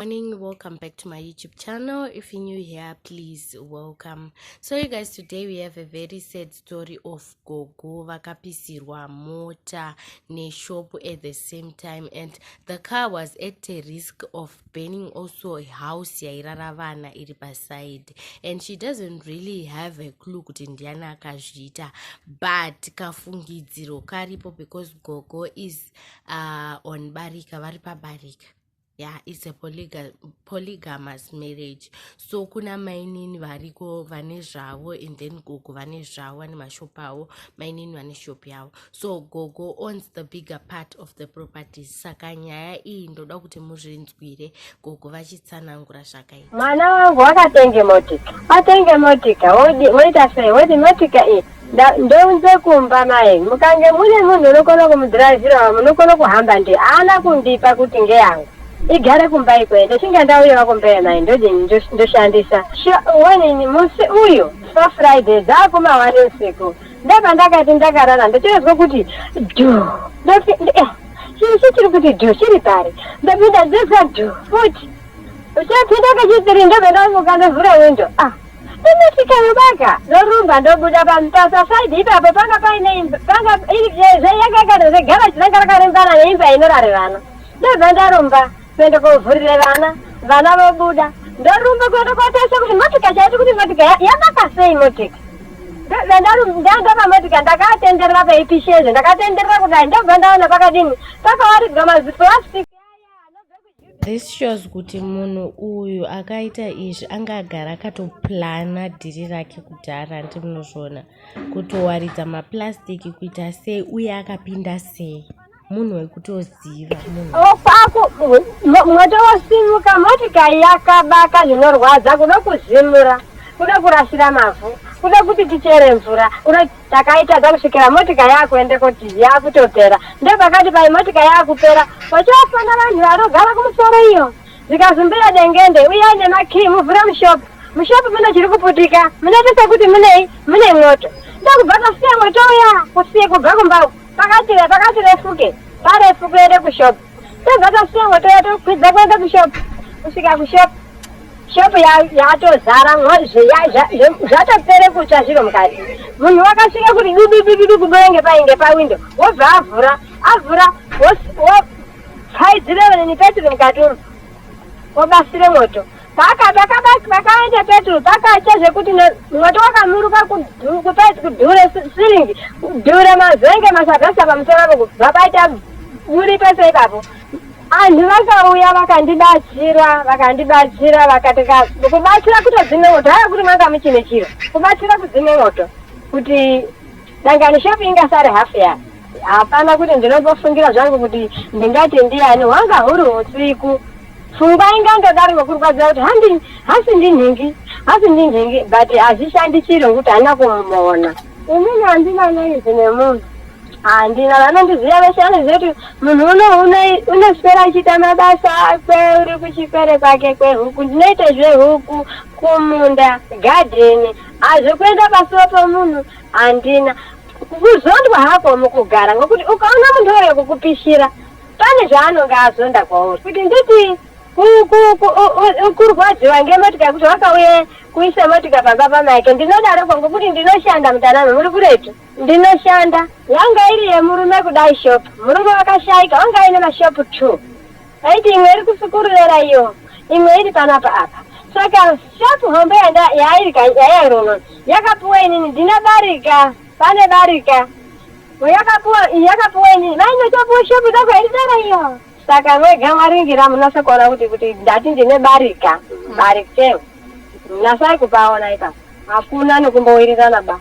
morning welcome back to my youtube channel if you're new here please welcome so you guys today we have a very sad story of gogo vakapisirwa mota neshop at the same time and the car was at a risk of burning also a house yairara vana iri paside and she doesn't really have a clue kuti ndiani akazviita but kafungidziro karipo because gogo is uh, on barika vari pabarika yeah it's a polyga polygamous marriage so kuna mainini variko vane zvavo and then gogo vane zvavo vane mashop avo mainini vane shop yavo so gogo owns the bigger part of the properties saka nyaya iyi ndoda kuti muzvinzwire gogo vachitsanangura zvakaita mwana wangu wakatenge motika atenge motika woita sei woti motika iyi ndounze kumba mai mukange mune munhu unokona kumudhiraivhirawa munokona kuhamba ndiye haana kundipa kuti ngeyangu igare kumba ikweyo ndichinge ndauyawa kumba yemai ndodini ndoshandisa wanini musi uyu fafriday dzakumawani usiku ndopandakati ndakarara ndochinonzwa kuti du eh, chii chiri kuti du chiri pari ndopinda ndinonzwa du futi uchapinda kechipiri ndobva ndamuka ndovhura windo ah ndosvika yobaka ndorumba ndobuda pamutasa saidi ipapo panga paine imba panga zveyakakana zvegaraji ranga rakarembana neimba inorare vana ndobva ndarumba kuenda kovhurire vana vana vobuda ndorumba kuenda kotarisa kuti motika chaiti kuti motika yabaka sei motika ndandopamodika ndakatenderera paipishezve ndakatenderera kudai ndobva ndaona pakadini pakawaridzwa mazipo This shows kuti munhu uyu akaita izvi anga agara akatoplana dhiri rake kudhara hanti munozviona kutowaridza maplastic kuita sei uye akapinda sei munhu wekutoziva munhuofako mwoto wosimuka motikari yakabaka zvinorwadza kuda kuzimura kuda kurasira mavhu kuda kuti tichere mvura takaitadza kusvikira motika yakuende kuti yakutopera ndepakati pai motika yakupera wachofana vanhu vanogara kumusoro iyo zikazumbira dengende uye aine makii muvhure mushopu mushopu mune chiri kuputika munoitisa kuti munei mune mwoto ndokubva tasiya mwoto uya kusiye kubva kumba uku pakati pakati refuke parefu kuende kushopu tobva tasongo toya tokwidza kuenda kushop kusvika kushop shop yatozara zvatopere kutsva zviro mukati munhu wakasvika kuti dududududu kudoenge painge pawindo wobva avhura avhura wopfaidzirevene nepetiri mukati umu wobasire moto Saka takabati pakaenda peturu pakasha zvekuti mwoto wakamuruka kupeti kudhure siringi kudhure mazenge masagasa pamusoro apo kubva paita buri pese ipapo anhu vakauya vakandibatsira vakandibatsira vakati kubatsira kutodzime moto haya kuti manga muchine chiro kubatsira kudzime moto kuti Dangani shop ingasare half ya hapana kuti ndinotofungira zvangu kuti ndingati ndiyani hwanga huri husiku pfungwa ingandodaro ngokurwadzira kuti handi hasi ndinhingi hasi ndinhingi but hazvishandi chiri ngokuti handina kumuona inini handina noizi nemunhu handina vanondiziva vese vanoziva kuti munhu uno unoswera achiita mabasa akwe uri kuchipere kwake kwehuku ndinoita zvehuku kumunda gadheni hazvekuenda pasuva pomunhu Handina kuzondwa hako mukugara ngokuti ukaona munhu auya kukupishira pane zvaanonge azonda kwauri kuti nditi kurwadziwa ngemotika kuti wakauye kuisa motika pamba pamake ndinodaroko ngokuti ndinoshanda mutanano muri kuretu ndinoshanda yanga iri yemurume kudai shop murume wakashaika wanga aine mashopu two Aiti imwe iri kusukururera iyo imwe iri panapa apa saka shop hombe yanda yairika yairona yakapuwa inini ndina barika pane barika yakapuwa yakapuwa inini vainotopuwa shop dako yaidara iyo saka mwega mwaringira munasa kuona kuti kuti ndati ndine barika barika munasai kupaona ipapo hakuna nokumbowirirana ba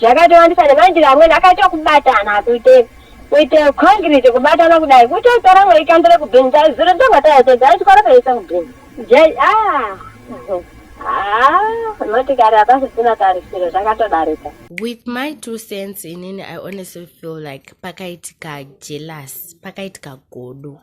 zvakatowandisa nemandiri amweni akaita kubatana kuite kuite concrete kubatana kudai kutotora mwe ikandire kubhini dai zuro ndobva taitedza aichikora kaisa kubhini jai a ah, ah, motikari hapasisina tarisiro zvakatodarika with my two cents inini i honestly feel like pakaitika jealous pakaitika godo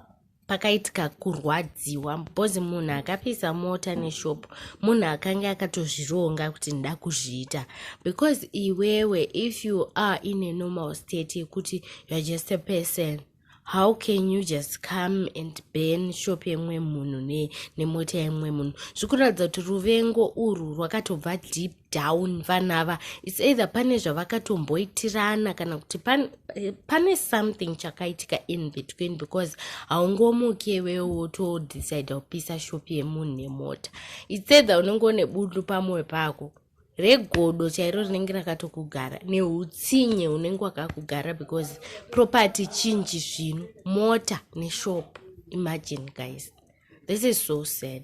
pakaitika kurwadziwa because munhu akapisa mota neshop munhu akange akatozvironga kuti nda kuzviita because iwewe if you are in a normal state yekuti youare just a person how can you just come and ban shop yemwe munhu nemota yemwe munhu zvikuratidza kuti ruvengo urwu rwakatobva deep down vana ava its either pane zvavakatomboitirana kana kuti pane, eh, pane something chakaitika in between because haungomuke iwewe wotodecide kupisa shop yemunhu nemota its either unenge une bundu pamwoyo pako regodo chairo rinenge rakatokugara neutsinye unenge wakakugara because property chinji zvino mota neshop imagine guys this is so sad